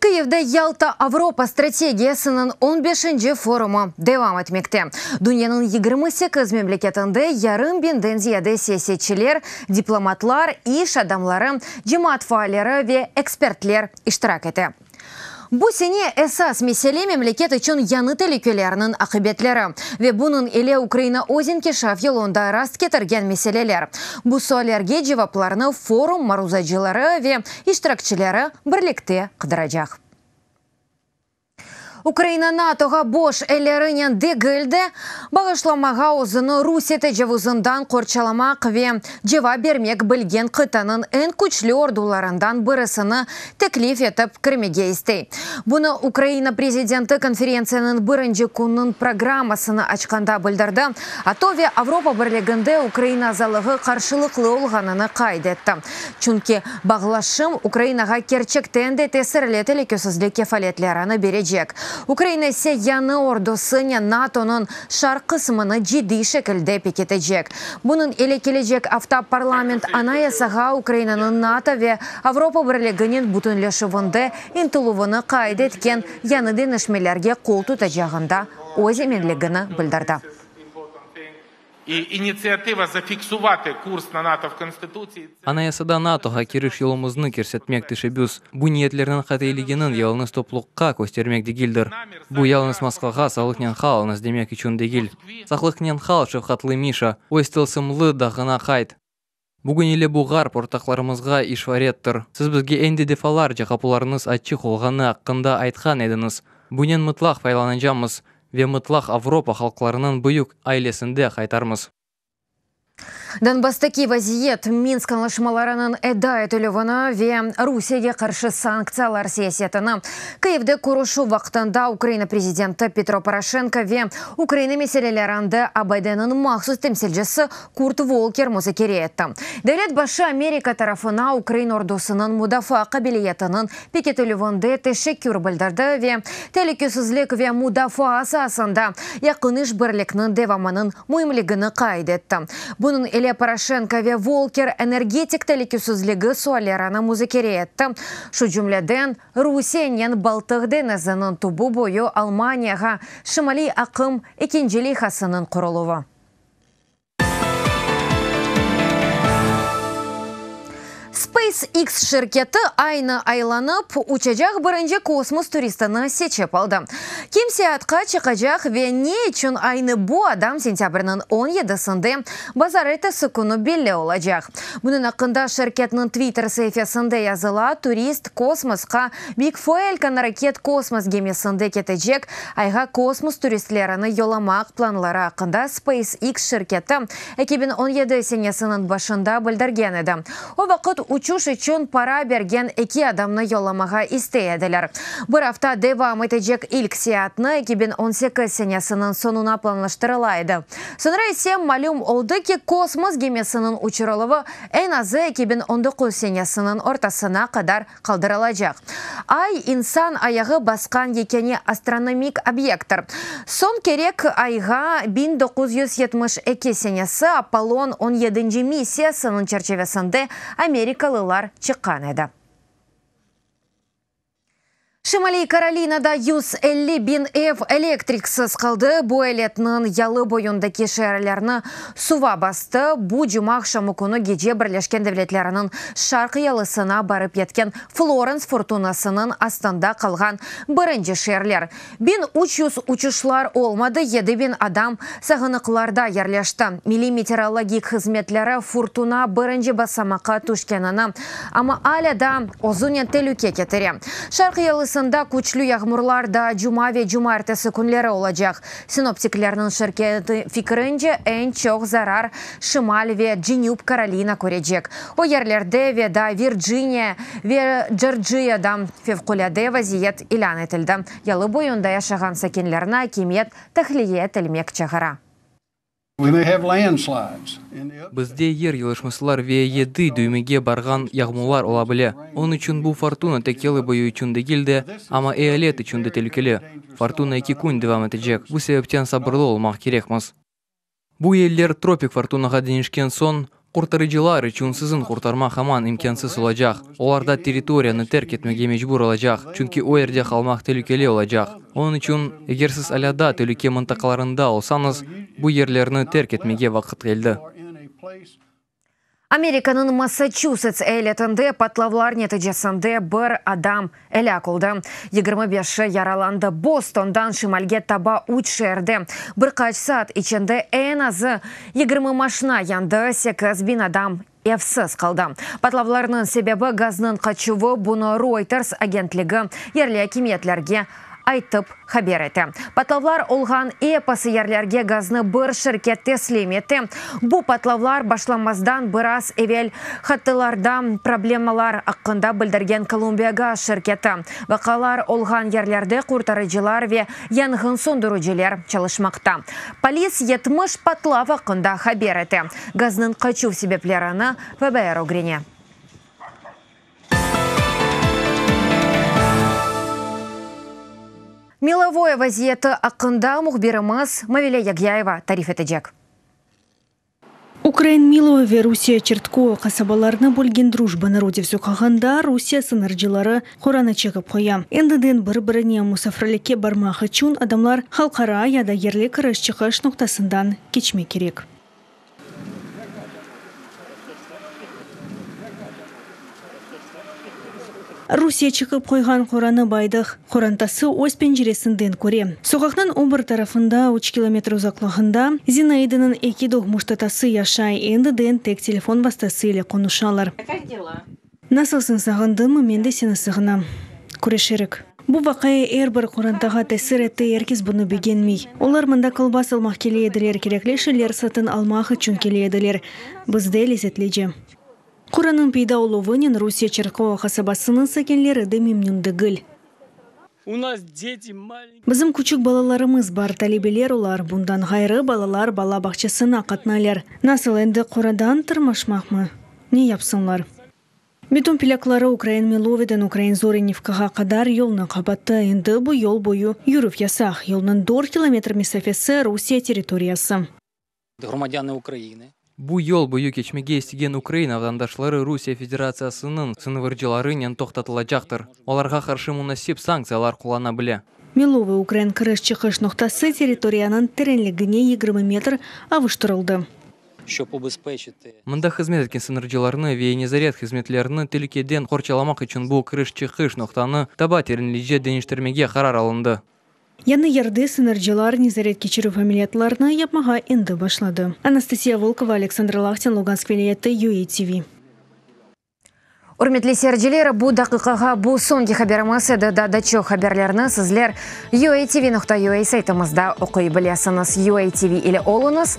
Kyivde Yalta Avropa strategiyasınıñ on beşinci forumı devam etmekte. Dünyanıñ yigirmi sekiz memleketinde yarım biñden ziyade siyasetçiler, diplomatlar, iş adamları, cemaat faalleri ve ekspertler iştirak ete. Bu sene esas mesele memleket içün yañı telükelearnıñ aqibetleri ve bunıñ ile Ukraina öz inkişaf yolunda rast ketirgen meseleler. Bu suallerge cevaplarnı forum maruzacıları ve iştirakçileri birlikte qıdıracaq. Ukraina NATOğa boş ellerinen degil de, bağışlamağa özüni Rusiye tecavuzından qorçalamaq ve cevap bermek bilgen qıtanıñ eñ küçlü ordularından birisini teklif etip kirmege istey. Bunı Ukraina prezidenti konferentsiyaniñ birinci künüñ programmasını açqanda bildirdi, ATO ve Avropa Birliginde Ukraina azalığı qarşılıqlı olğanını qayd etti. Çünki bağlaşım Ukrainağa kerçekten de tesirli telükesizlik kefaletlerini berecek, Ukraina ise yañı ordusınen NATOnıñ şarq qısmını ciddiy şekilde pekitecek. Bunıñ ile kelecek afta parlament Anayasağa Ukrainanıñ NATO ve Avropa Birliginen bütünleşüvinde ıntıluvını qayd etken yañı deñişmelerge qol tutacağında öz eminligini bildirdi. Anayasada NATOğa kiriş yolumıznı kirsetmek teşebbüs, bu niyetlerniñ qatiyliginiñ yalıñız topluqqa köstermek degildir. Bu yalıñız Moskvağa sağlıqnen qalıñız demek içün degil. Saqlıqnen qal, şefqatlı Mişa, öz tılsımlı dağına qayt! Bugün ile bu Ğarp ortaqlarımızğa işvarettir. Siz bizge endi defalarca qapularıñız açıq olğanı aqqında aytqan ediñiz. Bunen mıtlaq faylanacamız ve mıtlaq Avropa halqlarınıñ büyük ailesinde qaytarmız. Donbasstaki vaziyet, Minsk añlaşmalarınıñ eda etilüvini ve Rusiyege qarşı sanktsiyalar siyasetini, Kyivde körüşüv vaqtında Ukraina prezidenti Petro Poroşenko ve Ukraina meselelerinde ABDniñ mahsus temsilcisi Kurt Volker muzakere etti. Devlet başı Amerika tarafına ukrain ordusınıñ mudafaa qabiliyetiniñ pekitilüvinde teşekkür bildirdi ve telükesizlik ve mudafaa saasında yaqın işbirlikniñ devamınıñ müimligini qayd etti. Bunıñ ile Poroşenko ve Volker energetik telükesizligi suallerini muzakere etti, şu cümleden Rusiyenen Baltıq deñiziniñ tübü boyu Almaniyağa Şimaliy aqım ekinci leyhasınıñ quruluvı. SpaceX şirketi Aynı aylanıp, uçacaq birinci kosmos turistini seçip aldı. Kim seyaatqa çıqacaq ve ne içün aynı bu adam sentâbrniñ on yedisinde, bazar ertesi künü belli olacaq. Bunıñ aqqında şirketniñ Twitter saifesinde yazıla, Turist kosmosqa Big Foelkan raket kosmos gemisinde ketecek Ayğa kosmos turistlerini yollamaq planları aqqında SpaceX şirketi eki biñ on yedi senesiniñ başında bildirgen edi. O vaqıt uçuş içün para bergen eki adamnı yollamağa istey ediler. Bir afta devam etecek ilk seyaatni eki biñ on sekiz senesiniñ soñuna planlaştırıla edi. Soñra ise malüm oldı ki, kosmos gemisiniñ uçurıluvı eñ azı eki biñ on doquz senesiniñ ortasına qadar qaldırılacaq. Ay, insan ayağı basqan yekâne astronomik obyekttir. Soñ kerek Ayğa biñ doquz yüz yetmiş eki senesi Apollon on yedinci missiyasınıñ çerçevesinde amerikalılar çıqqan edi. Şimaliy Karolinada yüz elli biñ ev elektriksiz qaldı. Bu eletniñ yalı boyundaki şeerlerni Suva bastı, bu cuma aqşamı künü gece Birleşken Devletleriniñ Şarq yalısına barıp yetken Florens furtunasınıñ astında qalğan birinci şeerler. Biñ üç yüz uçuşlar olmadı, yedi biñ adam sağınıqlarda yerleşti. Milliy meteorologik hızmetleri furtuna birinci basamaqqa tüşkenini, amma alâ da özünen telüke ketire. Şarq yalısında küçlü yağmurlar da cuma ve cumartesi künleri olacaq. Sinoptiklerniñ şirketi fikrince, eñ çoq zarar Şimal ve Cenüp Karolina körecek. O yerlerde ve daa Virciniya ve Jorciyada fevqulâde vaziyet ilân etildi. Yalı boyunda yaşağan sakinlerni akimiyet tahliye etilmek çağıra. Bizde yer yılışmasılar ve yedi düymege barğan yağmular ola bile. Onıñ içün bu fortuna tek yalı boyu içün degil de, amma eyalet içün de telükeli. Fortuna eki kün devam etecek, bu sebepten sabırlı olmaq kerekmiz. Bu yerler tropik fortunağa deñişken soñ, Qurtarıcılar içün siziñ qurtarma haman imkânsız olacaq. Olar da territoriyanı terk etmege mecbur olacaq, çünki o yerde qalmaq telükeli olacaq. Onıñ içün, eger siz alâ daa telüke mıntaqalarında olsañız, bu yerlerni terk etmege vaqıt keldi. Amerikanıñ Massaçusets eyaletinde patlavlar neticesinde bir adam Elâk oldı, yigirmi beşi yaralandı. Bostondan şimalge taba üç şeerde bir qaç saat içinde eñ azı yigirmi maşna yandı, sekiz biñ adam evsiz qaldı. Patlavlarnıñ sebebi, gaznıñ qaçuvı, bunı Reuters agentligi yerli akimiyetlerge aytıp, haber ete. Patlavlar olğan episi yerlerge gaznı bir şirket teslim ete. Bu patlavlar başlanmazdan biraz evel hattılarda problemalar aqqında bildirgen Kolumbiagaz şirketi, vaqalar olğan yerlerde qurtarıcılar ve yanğın söndürüciler çalışmaqta. Polis yetmiş patlav aqqında haber ete, gaznıñ qaçuv sebeplerini FBR ögrene. Milovoye vaziyeti aqqında mühbirimiz Mavile Yagyayeva tarif etecek. Ukrain Miloy ve Rusiye Çertkoy qasabalarını bölgen Drujba Narodev soqağında Rusiye sıñırcıları qoranı çekip qoya. Endiden bir-birine musafirlikke barmaq içün adamlar halqara ya da yerli kiriş-çıqış noqtasından keçmek kerek. Rusiye çıqıp qoyğan Quranı Baydıq qorantası öz penceresinden köre. Soqaqnıñ o bir tarafında, üç kilometr uzaqlığında, Zinaidınıñ eki doğmuş tatası yaşay, endi den tek telefon vastası ile qonuşalar. Nasılsıñ, sağındıñmı? Men de seni sığınam. Küreşerik. Bu vaqia er bir qorantağa tesir etti, er kes bunı begenmey. Olar mında kolbas almaq kele ediler, kerekli şeyler satın almaq içün kele ediler. Bizde lezetlice. Quranıñ peyda oluvınen Rusiye Çerkova qasabasınıñ sakinleri de memnün degil. Bizim küçük balalarımız bar, talebeler olar, bundan ğayrı, balalar bala bağçasına qatnaylar. Nasıl, endi qoradan tırmaşmaqmı? Ne yapsınlar? Beton plâkları ukrain Miloveden ukrain Zorenivkağa qadar yolnı qapattı, endi bu yol boyu yürüv yasaq, yolnıñ dört kilometr mesafesi Rusiye territoriyası. Bu yol boyu keçmege istegen Ukraina vatandaşları Rusiye Federatsiyasınıñ sıñvırcılarınen toqtatılacaqtır, olarğa qarşı munasip sanktsiyalar qullana bile. Milovıy ukrain kiriş-çıqış noqtası territoriyanıñ terenligine yigirmi metr avuştırıldı. Mında hızmet etken sıñırcılarnı ve nezaret hızmetlerini telükeden qorçalamaq içün bu kiriş-çıqış noqtanı daba terenlice deñiştirmege qarar alındı. Yañı yerde sıñırcılar nezaretkeçirüv ameliyatlarını yapmağa endi başladı. Anastasiya Volkova, Aleksandr Lahtin, Lugansk vilâyeti, UATV. Ürmetli seyirciler, bu daqiqağa bu soñki haberimiz edi, daa da çoq haberlerni sizler UATV nokta UA saytımızda oquy bilesiñiz. UATV ile oluñız!